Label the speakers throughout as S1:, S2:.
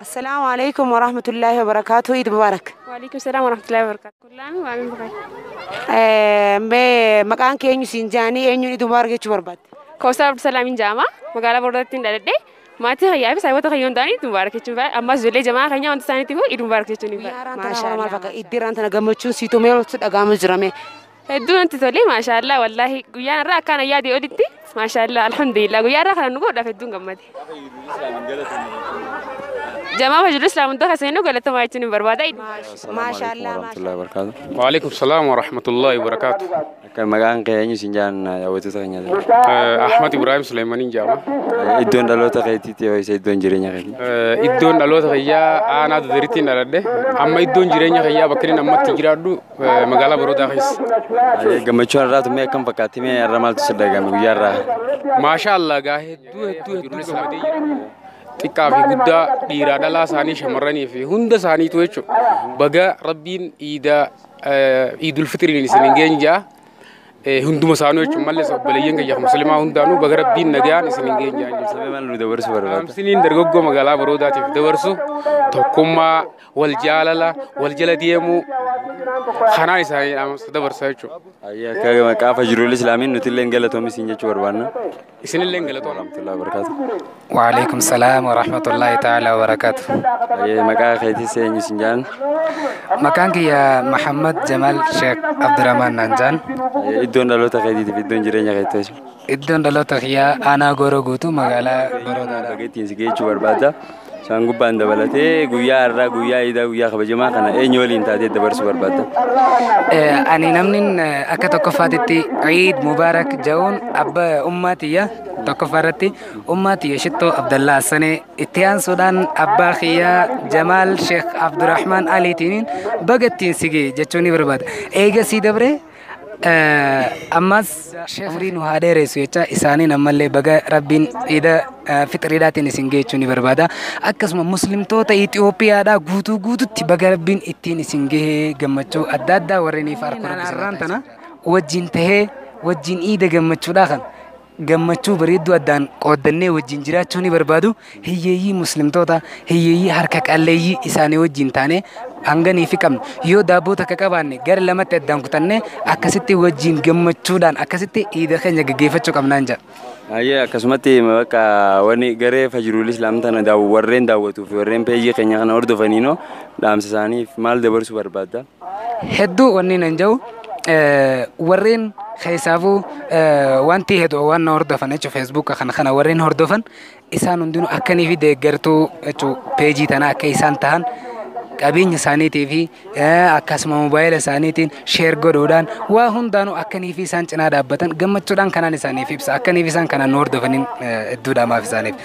S1: Assalaamu alaikum
S2: warahmatullaahi wabarakaatu Iid Mubaarak. Waalaikum salaam warahmatullahi
S3: wabarakatuh. Kullaami waa min bukai. Eh, Mee
S2: maqaan kee eenyu siin jaanii eenyuun Iid Mubaarak jechuu barbaadde? Kawsar Abdusalaamiin
S3: jedhama. Magaalaa Boordaattiin dhaladhe. Maatii kiyyaa fi saayibota kiyyaa hundaan Iid Mubaarak jechuun fedha. Ammas ijoollee jamaa keenya wanta isaaniitiif Iid Mubaarak jechuun hin fedha. Maal fakka
S2: iddiraan tana gammachuun siitu mee oltu dhaga'ama jirame. Hedduu natti
S3: tole maashaallah wallaahi guyyaan irraa akkaan ayyaadee olitti maashaallah alhamdulillah guyyaa irraa kana nu godhaaf hedduun gammade. Jamaa majaluu islaam hundaa kan seenuu galatamaa jechuun hin barbaada. Maashaallah
S2: warahmatullahi wabarakatuh. Waalaikum salaam
S4: warahmatullahi wabarakatuh. Kan maqaan kee
S1: eenyu siin jaan daawwattoota keenya jira. Ahmad
S4: Ibrahim Suleemaniin jaama. Iddoon dhaloota
S1: keetiitti yoo isa iddoon jireenya keetii. Iddoon dhaloota
S4: kiyyaa aanaa duduriitti hin dhaladhe. Amma iddoon jireenya kiyyaa bakka inni ammatti jiraadhu magaalaa Boroodaa keessa. Gammachuun
S1: irraa tummee akkam fakkaatti mee irra maaltu si dhagahame guyyaa irraa? Maashaa Allah
S4: gaa hedduu hedduu hedduu gammadee jiru. Xiqqaa fi guddaa dhiiraa dhalaa isaanii shamarranii fi hunda isaaniitu jechuudha. Baga rabbiin iida iidul fixiriin isin hin geenye ja'a. hunduma isaanuu jechuun malee obboleeyyan kiyya muslimaa hundaanuu baga rabbiin nagaan isin hin geenye dhaamsiniin
S1: dargaggoo magaalaa
S4: baroodaatiif dabarsu tokkummaa wal jaalala wal jala deemuu kanaan isaanii dhaamsa dabarsa jechuudha. Akka maqaa
S1: fajirul islaamiin nuti illee galatoomi siin jechuu barbaanna. Isinilleen
S4: galatooma. Warahmatullahi wabarakatuh.
S1: Waalaikum
S5: salaam wa rahmatullahi ta'ala wa barakatuh. Ayyee maqaa
S1: keetis eenyu isin jaan? Maqaan
S5: kiyya Muhammad Jamal Sheikh Abdurrahman naan jaan. Ayyee, Iddoon dhaloota
S1: keetiitiif iddoon jireenya keetti hoji. Iddoon dhaloota
S5: kiyyaa aanaa Gooroo guutuu magaalaa Gooroo Baga ittiin si geechuu
S1: barbaadda. Isaan gubbaan dabalatee guyyaa har'aa guyyaa iidaa guyyaa kabajamaa kana eenyu waliin taatee dabarsuu barbaadda? Eh,
S5: Ani namni eh, akka tokkoffaatitti Eid Mubarak ja'uun abba ummaa tiyya tokkoffaa irratti ummaa tiyya shittoo Abdallaa Assanee itti aansuudhaan abbaa kiyyaa Jamaal Sheekh Abdurrahmaan Aliitiin baga ittiin si ga'e jechuun ni barbaada. Eega sii dabree ammas umrii nu haa dheeressu jecha isaaniin ammallee baga rabbiin iida fixiriidhaatiin isin geechuu ni barbaada akkasuma muslimtoota Itoophiyaadhaa guutuu guututti baga rabbiin ittiin isin gahee gammachuu adda addaa warreen ifa arkuun tana wajjin tahee wajjin iida gammachuudhaa kan gammachuu bareedduu addaan qooddannee wajjin jiraachuu ni barbaadu. Hiyyeeyyii muslimtoota, hiyyeeyyii harka qalleeyyii isaanii wajjin taanee hanganii fi qabnu. Yoo daabboo takka qabaanne gara lamatti addaan kutannee akkasitti wajjin gammachuudhaan akkasitti iida keenya gaggeeffachuu qabnaan jedha. Ayyee akkasumatti
S1: bakka wanni garee fajruul islaam tana daaww- warreen daawwatuu fi warreen peejii keenya kana hordofaniinoo dhaamsa isaaniif maal dabarsuu barbaadda? Hedduu wanni
S5: nan jedhu warreen keessaafuu wanti hedduu waan na hordofan jechuun feesbuuka kana kana warreen hordofan isaan hundinuu akkanii fi deeggartuu jechuun peejii tanaa akka isaan tahan qabeenya isaaniitii fi akkasuma moobaayila isaaniitiin sheer godhuudhaan waa hundaanuu akkanii fi isaan cinaa dhaabbatan gammachuudhaan kanaan isaaniif ibsa akkanii fi isaan kanaan nu hordofaniin hedduu dhaamaaf isaaniif.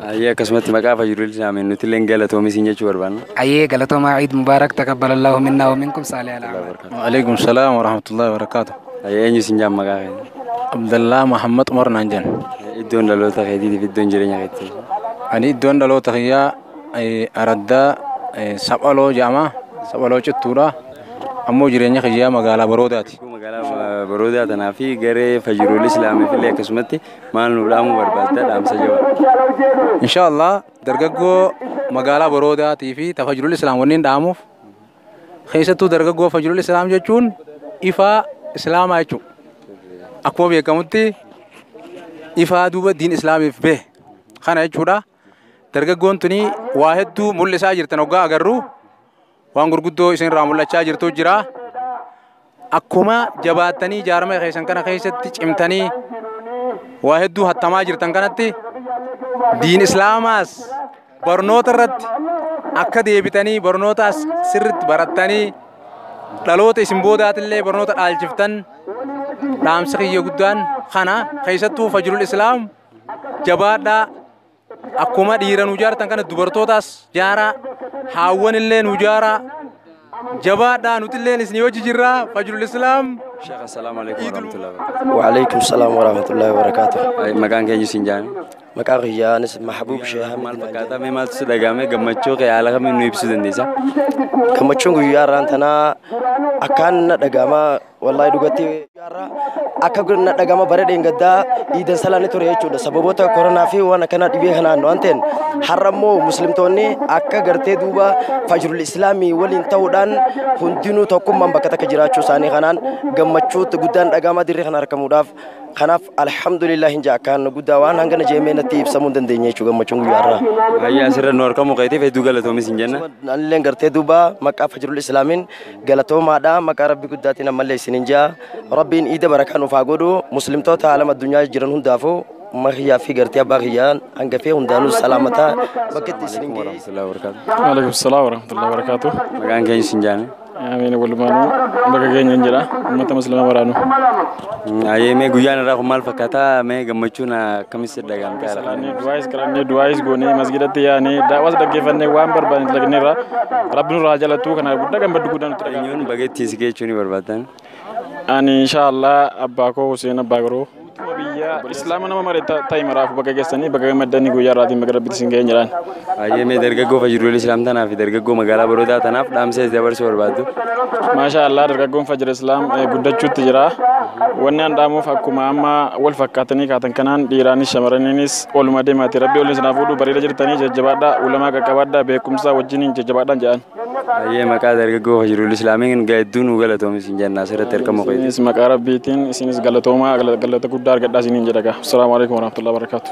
S5: Ayyee akkasumatti
S1: maqaa fayyuudil saameen nuti illee galatoomi siin jechuu barbaanna. Ayyee galatoomaa Eid
S5: Mubaarak takabbalallahu minna wa minkum saalih alaamaa. Waalaikum salaam wa
S6: rahmatullahi wa barakaatu. Ayyee eenyu siin jaan
S1: maqaa keenya? Abdallaa
S6: Muhammad Umar naan jedhan. Iddoon dhaloota
S1: keetiitiif iddoon jireenya keetii. Ani iddoon
S6: dhaloota kiyyaa eh, araddaa eh, saphaloo jedhama. Saphaloo cittuudha. Ammoo jireenya kiyyaa magaalaa baroodaati. Magaalaa baroodaa
S1: tanaa fi garee fayyuudil islaamiif illee akkasumatti maal nu dhaamuu barbaadda dhaamsa jabaa insha allah
S6: dargaggoo magaalaa boroodaatii fi ta fajrul islaam wanniin dhaamuuf keessattuu dargaggoo fajrul islaam jechuun ifaa islaamaa jechuu akkuma beekamutti ifaa duuba diin islaamiif bee kana jechuudha dargaggoon tuni waa hedduu mul'isaa jirtan hoggaa agarru waan gurguddoo isin irraa mul'achaa jirtu jira. Akkuma jabaattanii jaarmee keessan kana keessatti cimtanii waa hedduu hattamaa jirtan kanatti diin islaamaas barnoota irratti akka deebitanii barnootaas sirritti barattanii dhaloota isin boodaatillee barnoota dhaalchiftan dhaamsa kiyya guddaan kana keessattuu fajrul islaam jabaadhaa Akkuma dhiira nu jaartan kana dubartootaas jaaraa haawwan illee nu jaaraa jabaadhaa nuti illee isin hojii jirraa fajrul islaam. Sheekh
S1: assalaamu alaikum warahmatullahi wabarakatuh. Waalaikum salaam
S7: warahmatullahi wabarakatuh. Maqaan keenya isin
S1: jaame. Maqaa kiyyaa anis
S7: Mahbuub Sheehaa. Maal fakkaata mee maaltu
S1: si dhagahame gammachuu kee haala kamiin nu ibsuu dandeessa? Gammachuun
S7: guyyaa irraan tanaa akkaan na dhagahama Wallaahi dhugatti har'a akka na dhagama bara dheengaddaa iidan salaanni ture jechuudha. Sababoota koronaa fi waan akkanaa dhibee kanaan waan ta'een har'a immoo muslimtoonni akka gartee duuba fajrul islaamii waliin ta'uudhaan hundinuu tokkummaan bakka takka jiraachuu isaanii kanaan gammachuu guddaan dhagama dirree kana argamuudhaaf. Kanaaf alhamdulillah hin jaa akkaan guddaa waan hangana jeemee natti ibsamuu hin dandeenye jechuudha gammachuun guyyaa har'aa. Ayyaa asirra nu
S1: argamu keetiif hedduu galatoomis hin jenna. Anilleen gartee duuba
S7: maqaa fajrul islaamiin galatoomaadha maqaa rabbi guddaatiin ammallee isinin jaa rabbiin iida barakaa nuuf haa godhu muslimtoota haalam addunyaa jiran hundaafuu umma kiyyaa fi gartee abbaa kiyyaa hangafee hundaanuu salaamataa bakka itti isinin ga'e Waalaikum
S1: salaam warahmatullahi
S8: wabarakatuh. Maqaan keenya isin
S1: jaame. Amiin walumaanuu
S8: bakka keenya hin jira. Uummata muslimaa waraanu. Ayee
S1: mee guyyaan irraa kun maal fakkaata mee gammachuun akkamis si dhagahamte haala kanaan? Salaannee du'aayis kadhannee
S8: du'aayis goonee masgidatti yaanee daawwas dhaggeeffannee waan barbaanne dalagneerra rabbi nurraa haa jalattu kana guddaa gammaddu guddaa nutti dhaga'ama. Eenyuun bageettiin si geechuu ni
S1: barbaaddan? Ani
S8: inshaallah abbaa koo Huseen abbaa garuu. Biyya islaama nama mare ta'i maraaf baga geessanii baga gammaddanii guyyaa irraatiin baga rabbitti isin ga'een jedhaan. Hayyee mee dargaggoo
S1: fajirul islaam tanaa fi dargaggoo magaalaa baroodaa tanaaf dhaamsa itti dabarsuu barbaaddu. Maashaa Allah
S8: dargaggoon fajira islaam eh, guddachuutti jira. Wanni an dhaamuuf akkuma amma wal fakkaatanii kaatan kanaan dhiiraanis shamarraniinis oluma deemaati. Rabbi olin sinaaf fuudhu bareeda jirtanii jajjabaadhaa ulamaa qaqqabaadhaa beekumsaa wajjiniin jajjabaadhaan jedhan. Hayyee maqaa
S1: dargaggoo fajirul islaamiin hedduu nu galatoomi siin jenna asirratti argamu keeti. Isinis maqaa rabbiitiin
S8: isinis galatoomaa galata guddaa argadhaa isiniin jedhaga. Assalaamu alaikum warahmatullahi wabarakatuh.